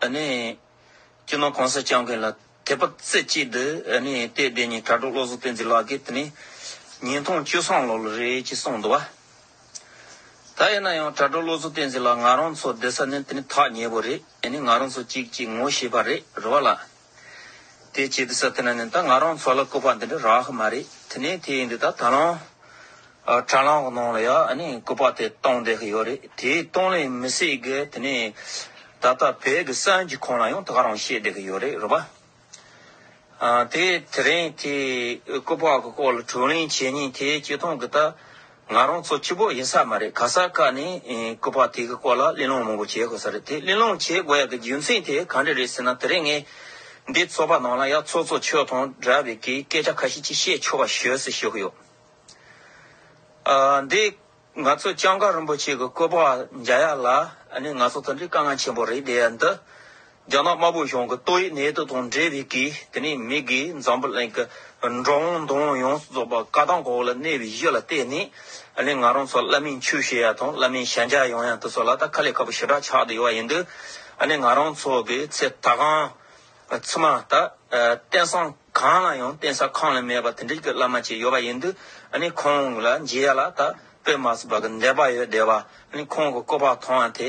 ཨ་ནི། སྐྱིད་སྣང་གང་སར་བསྐྱངས་མཁན་ལ་དད་པ་རྩེ་གཅིག་འདི་ཨ་ནི་ལྟས་བདེན་གཉིས་དྲ་གྲོགས་བློ་བཟང་བསྟན་འཛིན་ལགས་ཀྱིས་དེ་ནི། ཉིན་ཐུང་བཅུ་སྲང་ལོར་ལོ་རེད་ཅེས་གསུངས་འདུག་བ། ད་ཡིན་ན་ཡང་དྲ་གྲོགས་བློ་བཟང་བསྟན་འཛིན་ལགས་ང་རང་ཚོ་བསྡད་ས་ནི་དེ་ནི་ཐག་ཉེ་པོ་རེད་ཨ་ནི་ང་རང་ཚོ་གཅིག་གཅིག་ངོ་ཤེས་པ་རེད་རེད་བ་ལ། དེ་ཅི་ཟེར་ཐལ་ན་ད་ང་རང་ཚོ་ལ་སྐུ་པར་འདི་འདྲ་རག་ཧ་མ་རེད་དེ་ནས་དེ་ཡིན་དུས་ད་དྲ་ལམ་དྲ་ལམ་གི་ནང་ལ་ཡང་སྐུ་པར་དེ་གཏོང་བསྡད་ཀྱི་ཡོད་རེད་དེ་གཏོང་ལེ་མི་སྲིད་གི་དེ་ནས་ད་ལྟ་བོད་ཀྱི་གསར་འགྱུར་ཁང་ལ་ཡང་ད་ག་རང་བཤད་བསྡད་ཀྱི་ཡོད་རེད་རོ་པཱ། དེ་དེ་རིང་དེ་སྐུ་པར་གི་སྐོར་ལ་དྲུང་གླེང་བྱེད་ཉིན་དེ་སྤྱི་སྟངས་གི་ད་ང་རང་ཚོ་སྐྱིད་པོ་ཡིན་ས་མ་རེད་ག་ས་ཀ་ནས་སྐུ་པར་དེ་གི་སྐོར་ལ་གླེང་སློང་མང་པོ་བྱེད་དགོས་ས་རེད་དེ་གླེང་སློང་བྱེད་དགོས་ཡག་གི་རྒྱུ་མཚན་དེ་ག་འདྲ་རེད་ཟེར་ན་དེ་རིང་ངས་འདི་ཚོགས་པ་ནང་ལ་ཡག་ཚོགས་གཙོ་ཆོས་དང་འདྲ་བའི་གི་སྐད་ཆ་ཁ་ཤས་ཅིག་བཤད་ཆོག་པ་ཞོས་སུ་ཞུ་གི་ཡོད། འདི་ང་ཚོ་ལྕང་སྐར་རིན་པོ་ཆེ་གི་སྐུ་པར་འཇའ་ཡག་ལ་ནི་ང་ཚོ་དང་འདྲའི་དཀའ་ངལ་ཆེན་པོ་རེད་འདི་འདི་རྒྱ་ནག་དམར་པོའི་གཞུང་གི་ཏོག་དབྱིབས་ནད་དུག་དང་འབྲེལ་བའི་གིས་དེ་ནས་མི་དགེ་འཛམ་བུ་གླིང་གི་འགྲོ་འོང་འདུ་འོང་ཡོངས་སུ་རྫོགས་པ་བཀའ་ཐང་གོ་བོ་ལ་གནས་པའི་གཞི་ལ་བརྟེན་ནས་ནི་ང་རང་ཚོ་བླ་མའི་ཆོས་བཤད་ཡ་དང་བླ་མའི་ཞལ་མཇལ་ཡོང་ཡ་འདི་ཚོ་ལ་ད་ཁ་ལས་ཁ་པོ་ཞེ་དྲག་ཆགས་བསྡད་ཡོད་པ་ཡིན་དུས་ནི་ང་རང་ཚོ་གི་ཚེ་ད་གང་ཚུད་མ་ད་རྟེན་སང་གང་ལ་ཡང་རྟེན་ས་ཁང་ལས་མེད་པ་དེ་འདྲིས་གི་བླ་མ་ཅིག་ཡོད་པ་ཡིན་དུས་ནི་ཁོང་ལ་མཇལ་ཡ་ལ་ད་དཔེ་མ་ཚུད་པ་གི་འདས་པ་ཡོད་བསྡད་པ་ནི་ཁོང་གི་སྐུ་པར་ཐང་ཡ་དེ་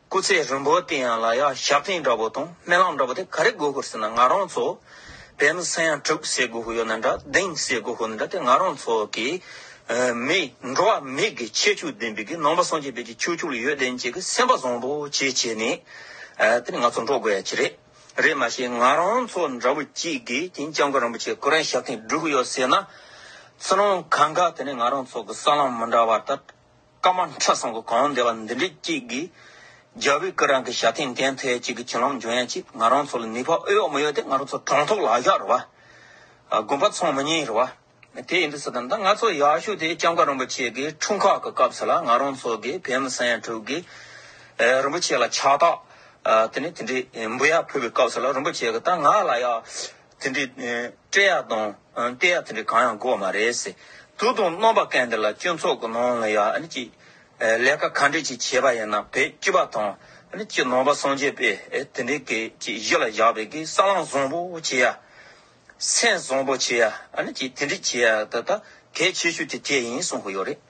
སྐུ་ཚེ་རིང་བོ་དེ་ཡང་ལ་ཡ་ཞབས་བརྟན་འདྲ་བོ་དང་སྨན་ལམ་འདྲ་བོ་དེ་ག་རེ་དགོས་ཤོར་ཟེར་ན་ང་རང་ཚོ་བོད་མི་ས་ཡང་དྲུག་བསད་དགོས་ཤོར་ཡོད་ན་འདྲ་གདེང་བསད་དགོས་ཤོར་ན་འདྲ་དེ་ང་རང་ཚོ་གི་མི་འགྲོ་བ་མི་གི་ཁྱད་ཆོས་ལྡན་པའི་གི་ནང་པ་སངས་རྒྱས་བོད་ཀྱི་ཆོས་ཕྱོགས་ལ་ཡོད་བདེན་བྱེད་གི་སེམས་པ་བཟང་པོ་བྱེད་བྱེད་ནས་དེ་ནི་ང་ཚོ་འགྲོ་དགོས་ཡ་ཁྱི་རེད་རེད་མ་ཤེས་ང་རང་ཚོ་འདྲ་བོ་གཅིག་གིས་དེང་སྐྱབས་མགོན་རིན་པོ་ཆེ་སྐུ་རིང་ཞབས་བརྟན་བསྒྲུགས་ཡོད་ཟེར་ན་ཚུར་སྣང་གང་ག་དེ་ནི་ང་རང་ཚོ་གི་ས་ལམ་མི་འདྲ་བ་ལྟར། སྐར་མ་ཁྲི་བཟང་གི་གང་བདེ་བ་འདི་འདྲའི་སྐྱིད་གི། རྒྱལ་བུའི་སྐུ་རང་གི་ཞབས་ཐིང་གན་ཐོའི་གཅིག་གི་གྱེན་ལམ་འབྱོན་ཡ་ཅིག་ང་རང་ཚོ་ལ་ནུས་པ་ཨེ་ཡོད་མི་ཡོད་དེ་ང་རང་ཚོ་གྲོང་ཐོག་ལ་བཞག་རུ་བ། དགོན་པ་ཚང་མ་ཉིན་རུ་བ། དེ་ཡིན་དུ་ཟེར་དམ་ད་ང་ཚོ་ཡག་ཤོས་དེ་ལྕམ་ཀ་རིན་པོ་ཆེ་གི་འཁྲུངས་ཁག་གི་སྐབས་སུ་ལ་ང་རང་ཚོ་གི་བེ་མི་སན་དྲུག་གི། རིན་པོ་ཆེ་ལ་ཕྱག་རྟགས། དེ་ནས་དེ་འདྲའི་འབུ་ཡག་ཕུལ་བའི་སྐབས་སུ་ལ་རིན་པོ་ཆེ་གི་ད་ང་ལ་ཡག། དེ་འདྲའི་སྤྲེལ་ཡག་དང་རྟེན་ཡག་དེ་འདྲའི་གང་ཡང་དགོས་པ་མ་རེད། དུག་དང་གནོད་པ་ཀན་འདི་ལ་སྤྱི་ཚོགས་ཀྱི་ནང་ལ་ཡ་ཨ་ནི་ཀྱི་ལས་ཀ་ག་འདྲས་ཀྱིས་བྱས་པ་ཡིན་ན་བེད་སྤྱི་བ་དང་ཨ་ནི་ཀྱི་ནང་པ་སངས་རྒྱས་པས་དེ་འདྲའི་གི་ཀྱི་གཞི་ལ་བཞག་པའི་གི་ས་ལངས་བཟང་པོ་བྱེད་ཡ། སེམས་བཟང་པོ་བྱེད་ཡ་ཨ་ནི་ཀྱི་དེ་འདྲས་བྱེད་ཡ་ད་ད་གལ་ཆེ་ཤོས་དེ་དེ་ཡིན་གསུངས་ཀྱི་ཡོད་རེད།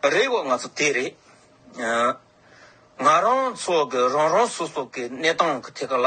རེད་གོ་ང་ཚོ་དེ་རེད། ང་རང་ཚོ་གི་རང་རང་སོ་སོ་གི་གནས་སྟངས་གི་ཐད་ཀ་ལ།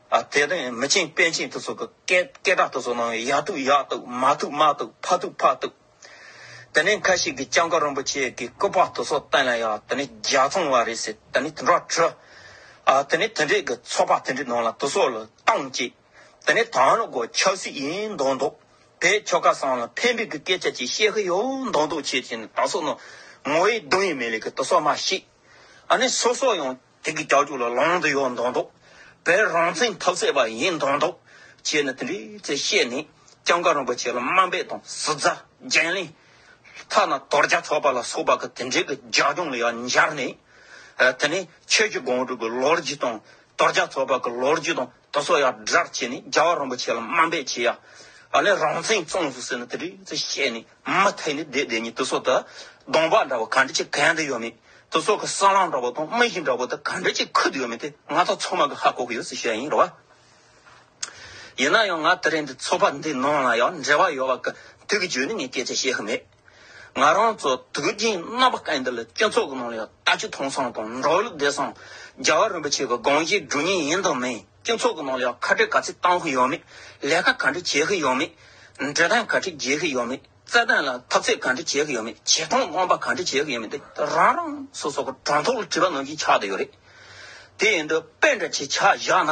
དེ་ནས་མི་ཆེན་དཔལ་ཆེན་དུ་སོགས་ཀྱི་སྐད་སྐད་གྲགས་དུ་སོགས་གནང་བས་ཡག་ཐུག་ཡག་ཐུག་མ་ཐུག་མ་ཐུག་ཕ་ཐུག་ཕ་ཐུག། དེ་ནས་ཁ་ཤས་ཀྱིས་ལྕང་སྐར་རིན་པོ་ཆེ་གི་སྐུ་དཔག་དུ་སོགས་བསྟན་ལ་ཡ་དེ་ནས་རྒྱ་ཚོང་བ་རེད་ཟེར་དེ་ནས་དེ་འདྲ་བྲོས། དེ་ནས་དེ་འདྲས་ཀྱི་ཚོགས་པ་དེ་འདྲས་ནང་ལ་དུ་སོགས་ལ་བཏང་བཅས། དེ་ནས་ད་ནི་གོ་ཆག་སྲིད་ཡིན་མདོག་མདོག་བས་ཁྱོ་ག་སང་ལ་ཕན་པའི་གི་སྐད་ཆ་ཅིག་བཤད་གི་ཡོད་མདོག་མདོག་བྱས་བྱས་ནས་ད་སོགས་ནང་ངོ་ཡི་གདུང་ཡི་མེ་ལས་ཀྱི་དུ་སོགས་མ་ཤེས། ཨ་ནི་སོ་སོ་ཡང། དེ་གི་ཀྱག་ཀྱུག་ལ་ལང་དུ་ཡོད་མདོག་མདོག། བོད་རང་བཙན་ཐབས་ཟད་པ་ཡིན་མདོག་མདོག། བྱས་ནས་དེ་འདྲའི་ཚེ་བཤད་ནས་སྐྱབས་མཁར་རིན་པོ་ཆེ་ལ་དམའ་འབེབས་དང་ཟུར་ཟ་བརྒྱན་གླེང། ཐ་ན་དོར་རྒྱ་ཚོགས་པ་ལ་སོགས་པ་གི་དེ་འབྲེལ་གི་ལྗགས་རྒྱུང་ལ་ཡང་འབྱར་ནས། དེ་ནས་ཁྱོད་ཀྱི་དགོངས་དྲུག་གི་ལོ་རྒྱུས་དང་དོར་རྒྱ་ཚོགས་པ་གི་ལོ་རྒྱུས་དང། ཏོ་སོགས་ཡང་སྒྲར་བྱས་ནས་རྒྱལ་བ་རིན་པོ་ཆེ་ལ་དམའ་འབེབས་བྱས། ཡང་ལས་རང་བཙན་བཙོང་ཟུག་ཟེར་ནས་དེ་དུས་ཚོད་བཤད་ནས་མུ་མཐའི་ནས་བསྡད་བསྡད་ཉིད་ཏོ་སོགས་དང་གདོང་འབག་འདྲ་བ་ག་འདྲ་ཅིག་གན་དུ་ཡོད་མེད་ཏོ་སོགས་ཀྱི་སྲང་ལམ་འདྲ་བོ་དང་རྨི་གཞི་འདྲ་བོ་དེ་ག་འདྲ་ཅིག་ཁུར་དུ་ཡོད་མེད་དེ་ང་ཚོ་ཚང་མ་གི་ཧ་གོ་གི་ཡོད་ཟེར་བཤད་ཡིན་རེད་བ། ཡིན་ན་ཡང་ང་དེ་རིང་འདི་ཚོགས་པ་འདིའི་ནང་ལ་ཡང་འབྲེལ་བ་ཡོད་བ་གི་དུས་ཀྱི་བརྗོད་ནས་ངས་སྐད་ཆ་བཤད་ཤེས་མེད། ང་རང་ཚོ་དུས་རྒྱུན་རྣམ་པ་ཀན་ལྡི་ལ་སྤྱི་ཚོགས་ཀྱི་ནང་ལ་ད་ཅི་ཐོང་སང་དང་འགྲོ་ལུགས་བདེ་སང་རྒྱལ་བ་རིན་པོ་ཆེ་གི་དགོངས་བཞེད་སྒྲུབ་ཉེན་ཡིན་དང་མིན་སྤྱི་ཚོགས་ཀྱི་ནང་ལ་ཁ་བྲལ་ག་ཚད་གཏང་གི་ཡོད་མེད་ལས་ཀ་ག་འདྲ་བྱེད་གི་ཡོད་མེད་འབྲི་སྟངས་ག་འདྲ་བརྗེ་གི་ཡོད་མེད་རྩལ་འདོན་ལ་ཐབས་རྩལ་ག་འདྲ་བྱེད་གི་ཡོད་མེད་བྱེད་སྟངས་སྣང་པ་ག་འདྲ་བྱེད་གི་ཡོད་མེད་དེ་རང་རང་སོ་སོ་གི་དྲང་ཐོག་ལ་དྲི་བ་གནང་གིན་ཆགས་ཀྱི་ཡོད་རེད་དེ་ཡིན་དུས་དཔེ་འདྲ་ཆེ་ཆགས་བཞག་ན།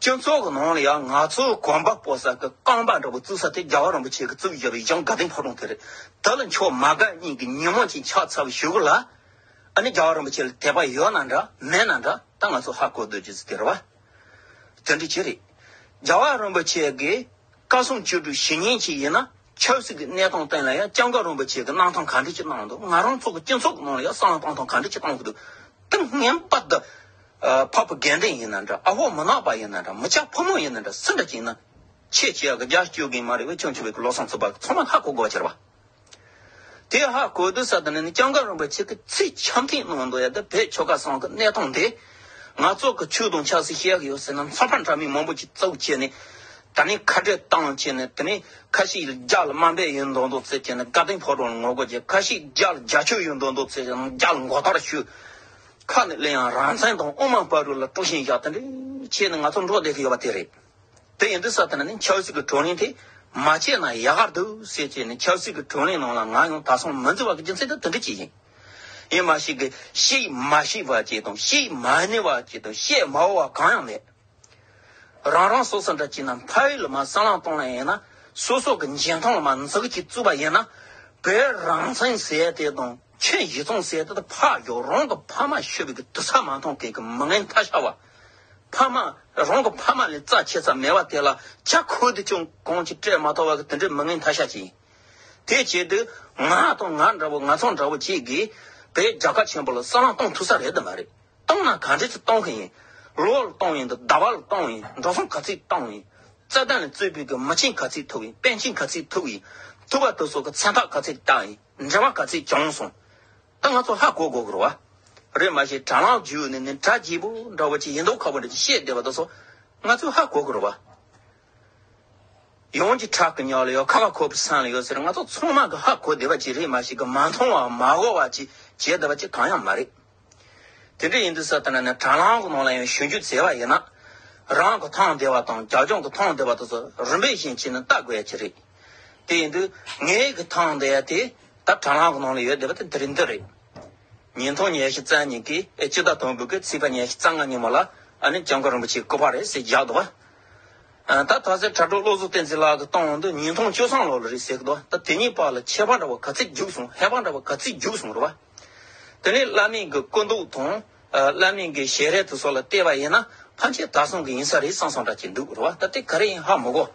སྤྱི་ཚོགས་ཀྱི་ནང་ལ་ཡང་ང་ཚོ་གོམ་པ་སྤོ་ས་གི་རྐང་པ་འདྲ་པོ་བཙུགས་ས་དེ་རྒྱལ་བ་རིན་པོ་ཆེ་གིས་བཙུགས་ཡོད་པའི་གཞང་དགའ་ལྡན་ཕོ་བྲང་དེ་རེད། དེ་ལ་མཆོག་མ་དགའ་སྙིང་གི་ཉིན་མོ་ཅིག་ཕྱག་འཚལ་བ་ཞུ་གི་ལ། ཨ་ནི་རྒྱལ་བ་རིན་པོ་ཆེ་ལ་དད་པ་ཡོད་ན་འདྲ་མེད་ན་འདྲ་ད་ང་ཚོ་ཧ་གོ་སྡོད་ཀྱི་ཚུལ་དེ་རེད་བ། དེ་འདྲ་ཅི་རེད། རྒྱལ་བ་རིན་པོ་ཆེ་གི་བཀའ་སྲུང་བཅུ་དྲུག་ཞི་གཉིས་ཅིག་ཡིན་ན། ཆབ་སྲིད་ཀྱི་གནས་སྟངས་སྟེང་ལ་ཡང་ལྕམ་ཀ་རོན་པོ་ཆེ་གི་གནང་ཐང་ག་འདྲི་ཅི་གནང་འདུག་ང་རང་ཚོ་གི་སྤྱི་ཚོགས་ནང་ལ་ཡང་གསང་བ་གཏང་ཐང་ག་འདྲི་ཅི་གཏང་གི་འདུག་ཏིང་ངན་པ་འདི། Propaganda ཡིན་ན་འདྲ་ཨ་ཧོ་མུན་ནག་པ་ཡིན་ན་འདྲ་མི་ཆ་ཕོ་མོ་ཡིན་ན་འདྲ་སུ་འདྲ་ཅིག་ཡིན་ན། ཆེས་ཆེ་ཡག་གི་རྒྱ་བསྐྱོད་མཁན་མ་རེད་བས་ཆུང་ཆུང་བས་ཀྱི་ལོ་སང་ཚུད་པ་ཚང་མ་ཧ་གོ་དགོས་པ་ཆེར་བ། དེ་ཧ་གོ་དུས་ས་དེ་ནས་ནི་ལྕམ་ཀ་རོན་པོ་ཆེ་གི་ཚིག་ཆམ་ཐིང་གནང་འདུག་ཡ་དེ་བས་ཆོལ་ཁ་སང་གི་གནས་སྟངས་འདི། ནག་ཚོགས་ཀྱི་ཆོས་དུང་ཆགས་སྲིད་ཤེས་ཡག་ཡོད་ཟེར་ན་མཚོ་ཕག་འདྲ་མིན་མང་པོ་ཅིག་བཙུགས་བྱས་ནས། ད་ནི་ཁ་བྲལ་བཏང་བྱས་ནས་དེ་ནས་ཁ་ཤིག་རྒྱ་ལ་དམའ་འབེབས་ཡོད་མདོག་མདོག་བརྩེགས་བྱས་ནས་དགའ་ལྡན་ཕོ་བྲང་ལ་ངོ་རྒོལ་བྱས་ཁ་ཤིག་རྒྱ་ལ་རྒྱ་ཆོས་ཡོད་མདོག་མདོག་བརྩེགས་བྱས་ནས་རྒྱ་ལ་མགོ་ལྟག་ར་ཞུས། ཁ་ནས་གླེང་ཡང་རང་བཙན་དང་དབུ་མ་པ་རུ་ལ་དཀྲུགས་ཤིང་བཞག་དེ་འདྲས་བྱས་ནས་ང་ཚོ་འགྲོ་བསྡད་ཀྱི་ཡོད་པ་དེ་རེད། དེ་ཡིན་དུས་ས་དེ་ན་ནི་ཆབ་སྲིད་ཀྱི་བགྲོ་གླེང་དེ་མ་བྱས་ན་ཡག་ག་འདུག་ཟེར་བྱས་ནས་ཆབ་སྲིད་ཀྱི་བགྲོ་གླེང་ནང་ལ་ང་ཡང་དག་སང་མི་འཛིན་བར་གྱི་རྒྱུ་མཚན་དེ་དེ་འདྲས་བྱས་ཤིང། ཡེ་མ་ཤེས་ཀྱི་ཤེས་མ་ཤེས་པ་བཅས་དང་ཤེས་མ་ནུས་པ་བཅས་དང་བཤད་མ་འོས་པ་གང་ཡང་མེད། རང་རང་སོ་སོ་འདྲ་བྱས་ན་ཕ་ཡུལ་ལ་མ་སྲང་ལང་སྟོང་ལ་ཡིན་ན་སོ་སོ་གི་འཇིན་ཐང་ལ་མ་འཛག་ཅིག་བཙུད་པ་ཡིན་ན་བོད་རང་བཙན་ཟེར་དེ་དང་ཁྱོད་ཡིད་ཚང་ཟེར་དེ་དང་ཕ་ཡུལ་རང་གི་ཕ་མ་ཤི་བའི་གི་དུ་ས་མ་མཐོང་ཁེལ་གི་མི་ངན་མཐའ་ཤར་བ། ཕ་མ་རང་གི་ཕ་མ་ལས་རྩ་ཆེ་ས་མེད་པ་དེ་ལ་ཇག་ཁོལ་དུ་ཅུང་གང་ཅིག་སྤྲད་མ་ཐོག་བ་གི་དེ་འདྲའི་མི་ངན་མཐའ་ཤར་ཅིག་ཡིན། དེའི་ཆེད་དུ། ང་དང་ང་འདྲ་བོ་ང་ཚང་འདྲ་བོ་གཅིག་གིས། བོད་རྒྱ་གར་ཆེན་པོ་ལ་གསང་བླང་གཏོང་ཐུབ་ས་རེད་དམ་མ་རེད། གཏོང་ན་ག་འདྲས་ཚོད་གཏོང་གི་ཡིན། ལོ་བ་ལ་གཏོང་ཡིན་དང་ཟླ་བ་ལ་གཏོང་ཡིན་འགྲོ་སོང་ག་ཚོད་གཏོང་ཡིན། རྩ་དོན་ལ་རྩོད་ཕུད་ཀྱི་མི་ཆེན་ག་ཚོད་ཐུག་ཡིན་དཔོན་ཆེན་ག་ཚོད་ཐུག་ཡིན། ཐུབ་པ་ཐུབ་སོགས་ཀྱི་མཚན་རྟགས་ག་ཚོད་བཏགས་ཡིན་འབྲེལ་བ་ག་ཚོད་བྱུང་སོང། ད་ང་ཚོ་ཧ་གོ་དགོས་ཀྱི་རེད་བ། རེད་མ་ཤེས་དྲ་ལམ་བརྒྱུད་ནས་ནི་དྲ་རྒྱས་པོ་འདྲ་བོ་ཅིག་ཡིན་མདོག་ཁ་པོ་འདྲ་ཅིག་བཤད་བསྡད་པ་དང་སོགས་ང་ཚོས་ཧ་གོ་དགོས་རེད་བ། ཡོངས་ཀྱི་ཁྲག་གི་སྙོག་ལ་ཡོ་ཁ་བ་ཁོ་བོའི་སྲང་ལ་ཡོད་ཟེར་སྔ་ཚོགས་ཚོང་དམག་གི་ཧ་གོ་བདེ་བ་ཅིག་རེད་མ་ཞིག་གི་མ་མཐོང་བ་མ་གོ་བ་ཅིག་བྱེད་བདེ་བ་ཅིག་གང་ཡང་མ་རེད། དེ་འདྲ་ཡིན་དུས་ས་ཐ་ན་ནི་དྲ་ལམ་གྱི་ནང་ལ་ཡང་ཞུ་རྒྱུ་བྱས་པ་ཡིན་ན། རང་གི་ཐང་བདེ་བ་དང་རྒྱ་སྐྱོང་གི་ཐང་བདེ་བ་དེ་ཚོ་རིམ་པས་བཞིན་བྱས་ནས་བལྟ་དགོས་ཡ་ཅིག་རེད། དེ་ཡིན་དུས་ངའི་གི་ཐང་བདེ་བ་དེ་ད་དྲ་ལམ་གྱི་ནང་ལ་ཡོད་བདེ་བ་དེ་འདིར་འདི་རེད། ཉིན་ཐོ་ཉེར་བཞི་རྩ་གཉིས་ཀྱི་སྤྱི་ཟླ་དང་དགུ་གི་ཚེས་པ་ཉེར་བཞི་རྩ་ལྔ་ཉིན་མོ་ལ་ཨ་ནི་ལྕང་སྐུ་རིན་པོ་ཆེའི་སྐུ་པར་རེད་ཟེར་བཞག་འདུག་བ། ད་ཐ་ཟེར་དྲ་གྲོགས་བློ་གཟུགས་བསྟན་འཛིན་ལགས་ཀྱི་སྟོང་འོག་འདི་ཉིས་སྟོང་བཅོ་སྲང་ལོར་ལ་རེད་ཟེར་གི་འདུག་ད་དེ་གཉིས་བར་ལ་ཁྱད་པར་འདྲ་བ་ག་ཚེད་རྒྱུགས་སོང་ཧད་པ་འདྲ་བ་ག་ཚེད་རྒྱུགས་སོང་རེད་བ། དེ་ནས་བླ་མེད་ཀྱི་སྐུ་མདོག་དང། བླ་མེད་ཀྱི་ཞལ་རས་དེ་སོགས་ལ་བལྟས་པ་ཡིན་ན་ཕམ་ཆེ་ད་སོང་གི་ཡིན་ས་རེད་སང་སང་འདྲ་གྱི་འདུག་རེད་བ་ད་དེ་ག་རེ་ཡིན་ཧ་མི་གོ།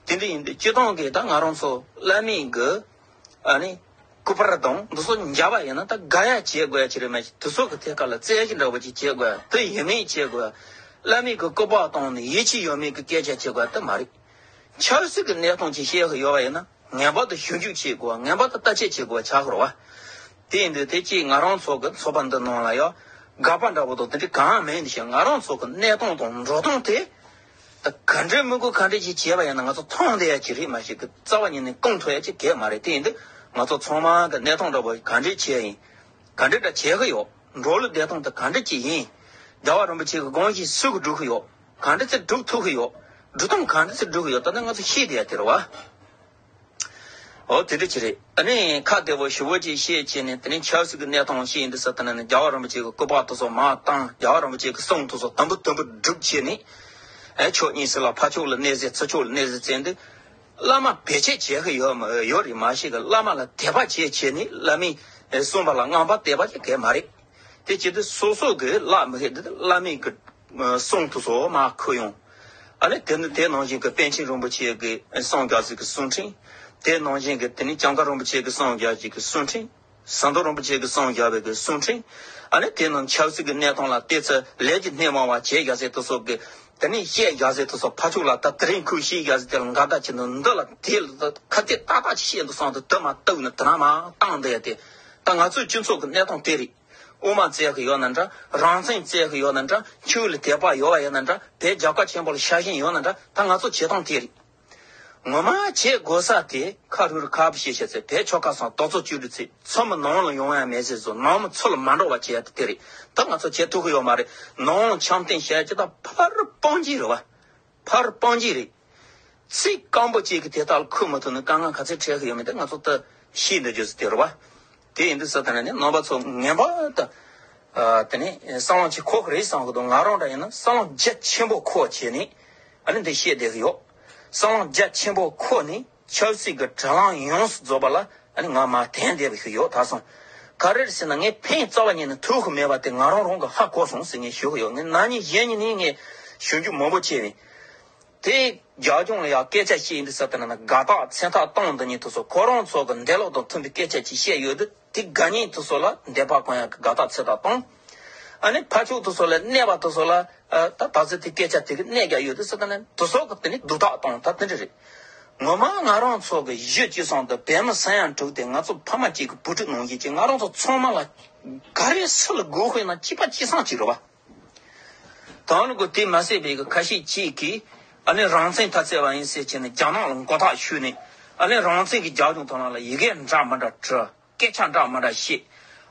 དེ་འདྲ་ཡིན་དུས་སྤྱི་སྟངས་ཀྱི་ད་ང་རང་ཚོ་བླ་མེད་ཀྱི། ནི། སྐུད་པར་དང་འདི་སོགས་འཇལ་བ་ཡིན་ན་ད་ག་ཡ་བྱེད་དགོས་ཀྱི་རེད་མ་གཞི་དེ་སོགས་ཀྱི་ཐད་ཀ་ལ་རྩལ་གྱི་འདྲ་པོ་ཅིག་བྱེད་དགོས་དེ་ཡིན་མིན་བྱེད་དགོས། བླ་མེད་ཀྱི་སྐུད་པ་བཏང་ནས་ཡིད་ཆེས་ཡོད་མེད་ཀྱི་སྐད་ཆ་བྱེད་དགོས་དེ་མ་རེད། ཆབ་སྲིད་ཀྱི་གནས་སྟངས་ཅིག་ཤེས་ཀྱི་ཡོད་པ་ཡིན་ན་ངེས་པར་དུ་ཞིབ་འཇུག་བྱེད་དགོས་བ་ངེས་པར་དུ་བརྟག་དཔྱད་བྱེད་དགོས་བ་བྱ་དགོས་བ། དེ་ཡིན་དུས་དེ་སྐྱིད་ང་རང་ཚོ་གི་ཚོགས་པ་འདི་ནང་ལ་ཡག་དགའ་བ་འདྲ་པོ་དང་དེ་འདྲ་གང་ཡང་མེད་འདི་ཞེས་ང་རང་ཚོ་གི་གནས་སྟངས་དང་འགྲོ་སྟངས་དེ། ད་ག་འདྲའི་དམོད་བཀུར་ག་འདྲ་ཞིག་བྱས་པ་ཡིན་ན་ང་ཚོ་ཚང་འདི་ཡ་ཅི་རིགས་མ་ཞིག་གི་རྩ་བ་ཉིད་ནས་བསྐང་ཐུབ་ཡ་ཅི་གེགས་མ་རེད་དེ་ཡིན་དུས་ང་ཚོ་ཚང་མ་གི་གནས་སྟངས་འདྲ་བོ་ག་འདྲའི་ཆེད་ཡིན། ག་འདྲའི་འདྲ་བྱེད་གི་ཡོད་འགྲོ་ལུགས་བདེ་ཐང་དེ་ག་འདྲ་ཅིག་ཡིན། རྒྱལ་བ་རིན་པོ་ཆེ་གི་དགོངས་བཞིན་སུས་གི་སྒྲུབ་གི་ཡོད། ག་འདྲ་ཚེ་སྒྲུབ་ཐུབ་གི་ཡོད། སྒྲུབ་སྟངས་ག་འདྲ་ཚེ་སྒྲུབ་གི་ཡོད་ད་ནི་ང་ཚོ་ཤེས་དེ་ཡ་དེ་རེད་བ། ཨོ་དེ་འདྲ་ཅི་རེད། ད་ནི་ཁ་བདེ་བོ་ཞུ་བོ་ཅིག་བཤད་ཅེས་ནས་དེ་རིང་ཆབ་སྲིད་ཀྱི་གནས་སྟངས་ཤེས་ཡིན་འདི་ཟེར་ཐ་ན་ནི་རྒྱ་བ་རིན་པོ་ཆེ་གི་སྐུ་པགས་ཐོག་སོགས་མ་བཏང་རྒྱ་བ་རིན་པོ་ཆེ་གི་གསུང་ཐོག་སོགས་དམ་པོ་དམ་པོ་སྒྲུབ་བྱེད་ནི། ཨེ་ཆོས་གཉིས་སྲིད་ལ་ཕ་ཕྱོགས་ལ་གནས་སའི་ཚུལ་ཕྱོགས་ལ་གནས་སའི་རྩེ་འདི། བླ་མ་བེད་སྤྱད་བྱེད་ཀྱི་ཡོད་མ་ཡོད་རེད་མ་གཞི་གི་བླ་མ་ལ་དད་པ་བྱེད་བྱེད་ནི་བླ་མའི་གསུངས་པ་ལ་དངངས་པ་སྟེར་བ་ཅི་གལ་མ་རེད། དེ་བྱས་ཏེ་སོ་སོ་གི་བླ་མ་ཞེས་འདི་བླ་མའི་གི་གསུང་དུ་སོ་མ་ཁུ་ཡོང། ཨ་ནི་དེ་ནི་དེ་ནང་བཞིན་གི་པཎ་ཆེན་རིན་པོ་ཆེའི་གི་གསང་རྒྱ་ཟིག་གི་གསུང་འཕྲིན། དེ་ནང་བཞིན་གི་དེ་ནི་ལྕང་སྐར་རིན་པོ་ཆེའི་གི་གསང་རྒྱ་ཞིག་གི་གསུང་འཕྲིན། ཟངས་མདོག་རིན་པོ་ཆེའི་གི་གསང་རྒྱ་བའི་གི་གསུང་འཕྲིན། ཨ་ནི་དེ་རྣམས་ཆབ་སྲིད་གི་གནས་སྟངས་ལ་བལྟས་ཚེ་ལས་ཀྱི་སྣེ་མང་བ་བྱེད་རྒྱ་ཟེར་དུ་སོགས་གི། དེ་ནི་བཤད་རྒྱ་ཟེར་དུ་སོགས་ཕ་ཕྱུགས་ལ་ད་དེ་རིང་ཁུལ་ཤེས་རྒྱ་ཟེར་དེ་ལ་འགའ་ད་ཁྱེད་འདི་ལ་དེ་ལ་ཁ་གཏད་ཏག་ཏག་ཅིག་བཤད་འདུག་གསང་དུ་དེ་མ་གཏུགས་ན་དེ་རྣམས་མ་བཏང་བསྡད་དེ། ད་ང་ཚོའི་སྤྱི་ཚོགས་ཀྱི་གནས་སྟངས་དེ་རེད། དབུ་མ་བཙལ་གི་ཡོད་ན་འདྲ། རང་བཙན་བཙལ་གི་ཡོད་ན་འདྲ། ཆོས་ལ་དད་པ་ཡོད་བ་ཡོད་ན་འདྲ། དེ་རྒྱབ་ཁ་ཆེན་པོ་ལ་ཤ་ཞེན་ཡོད་ན་འདྲ། ད་ང་ཚོ་བྱེད་སྟངས་དེ་རེད། ངོ་མ་བྱེད་དགོས་ས་དེ་ཁ་རུ་རུ་ཁ་བྱེད་བྱས་ཚེ་བེད་ཆོ་ཁ་སང་དོག་ཚོགས་བཅུ་དྲུག་ཚེ་ཚོ་མི་ནང་ལ་ཡོང་ཡ་མེད་ཚེ་ཚོ་ནང་མི་ཚོ་ལ་མ་འགྲོ་བ་བྱེད་ཡ་དེ་རེད། ད་ང་ཚོ་བྱེད་ཐུབ་གི་ཡོད་མ་རེད། ནང་ལ་འཆམ་མཐུན་བྱས་ཀྱི་ད་ཕ་རུ་སྤང་རྒྱུའི་རེད་བ། ཕར་སྤང་གྱི་རེད། ཚིག་རྐང་པོ་གཅིག་གིས་དེ་དག་ལ་འཁུར་མ་ཐུབ་ན་དཀའ་ངལ་ག་ཚད་འཕྲད་ཀྱི་ཡོད་མེད་དེ་ང་ཚོ་ལྟ་ཤེས་འདོད་རྒྱུ་དེ་རེད་བ། དེ་ཡིན་དུས་ས་ཐ་ན་ནི་ནང་པ་ཚོ་ངན་པ་དང། དེ་ནི་སྲང་ལམ་ཆེ་ཁོག་རེད་བསམ་གི་འདུག་ང་རང་འདྲ་ཡིན་ན་སྲང་ལམ་རྒྱ་ཆེན་པོ་ཁོག་བྱས་ནས་ཨ་ནི་འདི་བཤད་བསྡད་ཀྱི་ཡོད། སྲང་ལམ་རྒྱ་ཆེན་པོ་ཁོག་ནས། ཆབ་སྲིད་ཀྱི་དྲ་ལམ་ཡོངས་སུ་རྫོགས་པ་ལ་ང་མ་དན་དད་པ་ཞིག་ཡོད་ད་སོང། ག་རེར་ཟེར་ན་ངའི་ཕའི་རྩ་བ་ཉིད་ནི་ཐུགས་ཁུར་མེད་པ་དེ་ང་རང་རང་གི་ཧ་གོ་སོང་ཟེར་ངེས་ཞུ་ཡོད་ངའི་ནང་མྱི་གཞན་གཉིས་ནི་ངའི་གཞོན་སྐྱེས་མང་པོ་ཆེ་བས། དེ་རྒྱ་གཞུང་ལ་ཡང་སྐད་ཆ་བཤད་ཡིན་དུས་ས་དེ་ན་ན་དགའ་རྟགས་མཚན་རྟགས་སྟངས་འདི་ཉིད་དུ་སོ་ཁོ་རང་ཚོ་གི་འདས་ལོག་དང་མཐུན་པའི་སྐད་ཆ་ཅིག་བཤད་ཡོད་དུས། དེ་དགའ་ཉེ་དུ་སོགས་ལ་འདས་པ་གང་ཡང་གི་དགའ་རྟགས་ཚེ་དང་སྟོང། ཨ་ནི་ཕ་ཕྱུག་དུ་སོགས་ལས་གནས་པ་དུ་སོགས་ལ། ད་ད་ཚེ་དེ་སྐད་ཆ་དེ་གི་གནད་ཀྱང་ཡོད་དུ་སི་ད་ནི་དུ་སོགས་ཀྱི་དེ་ནི་སྡུག་རྟགས་སྟོང་ད་དེ་འདྲ་རེད། ངོ་མ་ང་རང་ཚོ་གི་གཞི་གཅིག་ཚང་དུ་བལ་མི་ས་ཡང་དྲུག་དེ་ང་ཚོ་ཕ་མ་གཅིག་གི་བུ་ཕྲུག་ནང་བཞིན་གྱི་ང་རང་ཚོ་ཚང་མ་ལ། ག་རེ་སི་ལ་དགོས་དཔེ་ན་སྐྱིད་པ་སྐྱིད་སང་གཅིག་རེད་བ། དང་ལ་གོ་དེ་མ་ཟད་པའི་ཁ་ཤས་ཀྱིས་ཀྱི་ཨ་ལན་རང་བཙན་ཐ་ཚལ་བ་ཡིན་ཟེར་བྱས་ནས་རྒྱ་ནག་ལ་མགོ་ཐག་ཆོད་ནས་ཨ་ལན་རང་བཙན་གྱི་རྒྱབ་ལྗོངས་དང་ལ་ལ་ཡི་གེ་འདྲ་མ་འདྲ་བྲི། སྐད་ཆ་འདྲ་མ་འདྲ་བཤད།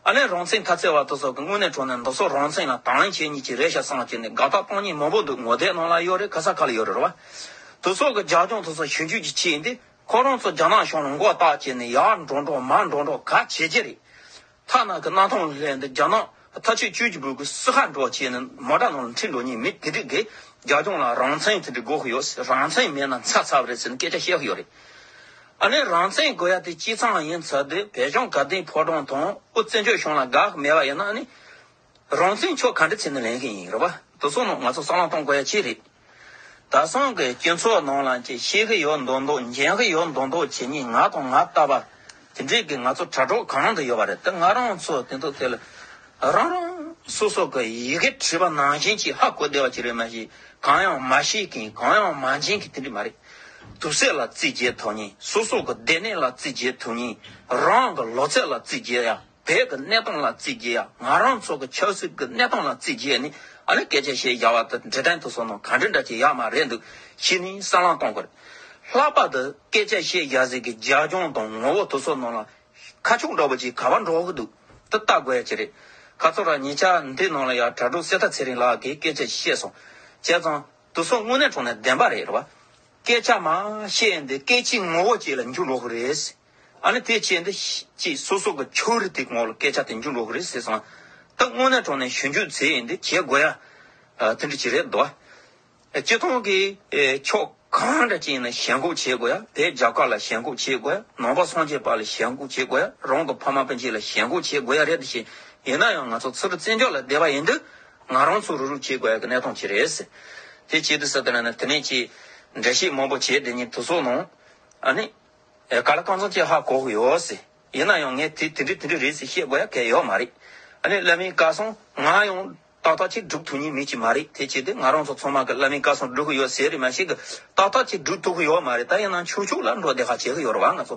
ཨ་ལན་རང་བཙན་ཐ་ཚལ་བ་དོ་སོག་གི་དངོས་གནས་གྲོ་ནས་མདོ་སོག་རང་བཙན་ལ་དང་ལེན་བྱེད་གཉིས་ཀྱི་རེ་ཞྭ་སངས་བྱས་ནས་དགའ་ཐག་སྤང་གཉིས་མང་པོ་འདུག་ངོ་དེ་ནང་ལ་ཡོད་རེད་ག་ས་ག་ལ་ཡོད་རེད་ར་བ། དོ་སོག་གི་རྒྱབ་ལྗོངས་དོ་སོག་གཞོན་སྐྱོད་ཀྱི་ཆེད་ཡིན་ཏེ་ཁོ་རང་ཚོ་རྒྱ་ནག་གཞུང་ལ་མགོ་བཏགས་བྱས་ནས་ཡར་འགྲོ་འགྲོ་མར་འགྲོ་འགྲོ་ག་བྱེད་ཀྱི་རེད། མཐའ་ནག་གི་སྣ་ཐང་ལས་འདི་རྒྱ་ནག་ཐ་ཆད་བཅོས་ཀྱི་བོད་ཁུལ་སི་ཧ་འགྲོ་བྱེད་ནི་མ་དྲ་ནང་ལ་འཁྲིད་འགྲོ་ཉེས་མེད་དེ་དྲི་གི་རྒྱ་སྐྱོང་ལ་རང་བཙན་དེ་དྲི་དགོས་ཀྱི་ཡོད་ཟེར་རང་བཙན་མེད་ན་ཚ་ཚ་བ་རེད་ཟེར་ནི་སྐད་ཆ་བཤད་ཀྱི་ཡོད་རེད་ཨ་ནི་རང་བཙན་དགོས་ཡ་དེ་སྤྱི་ཚང་ཡིན་ཚ་དེ་བས་ཀྱང་ག་དེའི་ཕོ་བྲང་དང་དབུ་བཙན་བྱོལ་གཞུང་ལ་དགའ་མེད་པ་ཡིན་ན་ཨ་ནི། རང་བཙན་ཕྱོགས་ག་འདྲ་ཚིག་ནི་ལེན་གི་ཡིན་རེད་བ་དེ་ཚོ་ནང་ང་ཚོ་སང་ལ་གཏོང་དགོས་ཡ་ཅི་རེད་ད་སང་གི་སྤྱི་ཚོགས་ནང་ལ་ཅི་ཤེས་གི་ཡོད་མདོག་མདོག་འཇན་གི་ཡོད་མདོག་མདོག་བྱེད་ཉིན་ང་དང་ང་ལྟ་བ་དེ་འདྲས་གི་ང་ཚོ་དྲ་གྲོགས་གང་མང་དུ་ཡོད་བ་རེད་དེ་ང་རང་ཚོ་དེ་འདུག་དེ་ལ་རང་རང་སོ་སོ་གི་ཡི་གེ་བྲིས་པ་ནང་བཞིན་གྱི་ཧ་གོ་བདེ་བ་ཅིག་རེད་མ་གཞི་གང་ཡང་མ་ཤེས་གི་གང་ཡང་མ་འཇན་གི་དེ་འདྲས་མ་རེད་དུག་སེལ་ལ་རྩིས་བརྒྱད་ཐོག་ཉིན་སོ་སོ་གི་སྡེ་སྣེ་ལ་རྩིས་བརྒྱད་ཐུག་ཉིན་རང་གི་ལོ་ཚད་ལ་རྩིས་བརྒྱད་ཡ། བོད་ཀྱི་གནས་སྟངས་ལ་བརྩི་རྒྱུ་ཡང་ང་རང་ཚོ་གི་ཆབ་སྲིད་ཀྱི་གནས་སྟངས་ལ་བརྩི་རྒྱུ་ནི་ཨ་ནི་སྐད་ཆ་བཤད་རྒྱ་བ་དང་འབྲེལ་ཕྲན་ཐུགས་སོ་ནང་གང་འདྲི་འདྲ་བྱེད་ཡག་མ་རེད་འདུག་ཕྱིས་ནི་སང་ལང་གཏོང་དགོས། ལྷག་པར་དུ་སྐད་ཆ་བཤད་རྒྱ་ཟེར་གི་རྒྱ་སྐྱོང་དང་ངོ་བོ་ཐུགས་སོ་ནང་ལ་ཁ་ཕྱོགས་འདྲ་བོ་ཅིག་ག་བ་འགྲོ་གི་འདུག་དེ་ལྟ་དགོས་ཀྱི་རེད། ཁ་ཚོ་ར་ཉེ་ཆར་འདི་ནང་ལ་ཡང་དྲ་གྲོགས་གསེར་རྟ་ཚེ་རིང་ལགས་ཀྱིས་སྐད་ཆ་བཤད་སོང། བྱས་ཙང་དུ་སོ་དངོས་གནས་དྲུང་ནས་བདེན་པ་རེད་བ། སྐད་ཆ་མང་བཤད་འདི་སྐད་ཆའི་ངོ་བོ་བཅས་ལ་འགྱུར་འགྲོ་གི་རེད། ཨ་ནི་དེ་ཅི་འདི། ཅེས་སོ་སོ་གི་ཆོས་རིག་དེ་ངོ་ལ་སྐད་ཆ་དེ་འཇུག་འགྲོ་གི་རེད་ཟེར་སོང། ད་དངོས་གནས་གྲོང་ནས་གཞོན་སྐྱོད་ཚེ་ཡིན་འདི་བྱེད་དགོས་ཡ། དེ་འདྲ་ཅི་རེད་དོ། སྤྱི་ཐོངས་ཀྱི་ཕྱོགས་གང་འདྲ་ཅིག་ཡིན་ན་ཞལ་འགོག་བྱེད་དགོས་ཡ་བས་རྒྱ་དཀར་ལ་ཞལ་འགོག་བྱེད་དགོས་ཡ་ནང་པ་སངས་རྒྱས་པ་ལ་ཞལ་འགོག་བྱེད་དགོས་ཡ་རང་གི་ཕ་མ་དཔོན་ཆེན་ལ་ཞལ་འགོག་བྱེད་དགོས་ཡ་རེད་དོ་ཞེས་ཡིན་ན་ཡང་ང་ཚོ་ཚུར་བཙན་བྱོལ་ལ་བསྡད་པ་ཡིན་འདི། ང་རང་ཚོ་རུག་རུག་བྱེད་དགོས་ཡ་གི་གནས་སྟངས་ཅི་རེད་ཟེར། དེ་ཅི་འདི་ཟེར་དེ་ན་ན་དེ་ནས་ཅེས་འགྲེལ་བཤད་མང་པོ་བྱས་དེ་ཉིན་དུ་སོང་ནང། ཨ་ནི། ཨེ་ག་ལ་གང་བྱུང་ཅེས་ཧ་གོ་གི་ཡོད་སྲིད། ཡིན་ན་ཡང་ངས་དེ་དེ་འདྲས་དེ་འདྲས་རེད་ཟེར་བཤད་དགོས་ཡ་གལ་ཡོད་མ་རེད། ཨ་ནི་བླ་མའི་བཀའ་གསུང་ང་ཡང་ཏག་ཏག་ཅིག་སྒྲུབ་ཐུབ་ཉེན་མེད་ཅིག་མ་རེད་དེ་བྱས་ཏེ་ང་རང་ཚོ་ཚང་མ་གི་བླ་མའི་བཀའ་གསུང་སྒྲུབ་གི་ཡོད་ཟེར་རེད་མ་ཞིག་གི་ཏག་ཏག་ཅིག་སྒྲུབ་ཐུབ་གི་ཡོད་མ་རེད་ད་ཡིན་ན་ཆུག་ཆུག་ལ་འགྲོ་བདེ་ཁ་བྱེད་གི་ཡོད་རེད་བ་ང་ཚོ་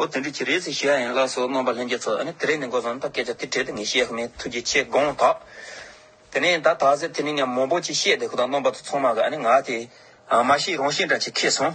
ཨོ་དེ་འདྲས་ཅིག་རེད་ཟེར་བཤད་ཡ་ཡིན་ལགས་སོ་རྣམ་པ་ལྷན་རྒྱས་ཚོ་ཨ་ནི་དེ་རེད་ནི་འགོ་བཟང་ད་སྐད་ཆ་དེ་འཕྲལ་དུ་ངས་བཤད་གི་མེད་ཐུགས་རྗེ་ཆེ་དགོངས་དག། དེ་ནས་ད་དག་ཟེར་དེ་ནས་ཉམས་མོང་པོ་ཅིག་བཤད་དེ་ཁོ་དང་རྣམ་པ་ཚོ་ཚང་མ་གི་ཨ་ནི་ང་དེ་མ་ཤེས་རང་ཤེས་འདྲ་ཅིག་ཁེལ་སོང།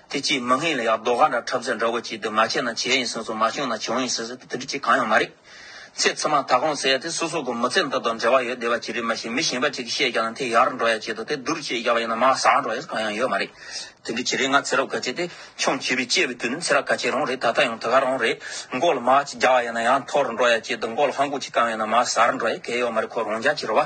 དེ་གཅིག་མི་ངན་ལ་ཡག་རྡོག་ར་འདྲ་འཁྲབ་ཟེར་འདྲ་བོ་གཅིག་འདུག་མ་བྱས་ན་བྱས་ཡིན་ཟེར་སོང་མ་བྱུང་ན་བྱུང་ཡིན་ཟེར་ཟེར་དེ་འདྲ་གཅིག་གང་ཡང་མ་རེད། ཚེ་ཚད་མ་ད་གོང་ཟེར་ཡ་དེ་སོ་སོ་གོ་མི་ཚེ་འདི་དང་འབྲེལ་བ་ཡོད་བདེ་བ་ཅི་རིགས་མ་ཤེས་མི་གཞན་པ་གཅིག་གིས་བཤད་རྒྱག་ན་དེ་ཡག་རུ་འགྲོ་ཡ་གཅིག་འདུག་དེ་བསྡུར་བྱེད་རྒྱག་པ་ཡིན་ན་མ་ཟག་འགྲོ་ཡ་གང་ཡང་ཡོད་མ་རེད། དེ་འདྲ་གི་རེད་ང་ཚེ་རབས་ག་ཅེས་ཏེ་ཆུང་བྱིས་པའི་སྐྱེས་པའི་དུས་ནས་ཚེ་ར་ག་ཅེས་རང་རེད་ད་ལྟ་ཡང་དེ་ག་རང་རེད། མགོ་ལ་མ་གཅིག་རྒྱག་བ་ཡིན་ན་ཡང་འཐོར་རུ་འགྲོ་ཡ་གཅིག་འདུག་མགོ་ལ་ཧང་གུག་གཅིག་བཀང་བ་ཡིན་ན་མ་ཟག་རུ་འགྲོ་ཡ་གལ་ཡོད་མ་རེད་ཁོ་རང་རྒྱག་ཅི་རུ་བ།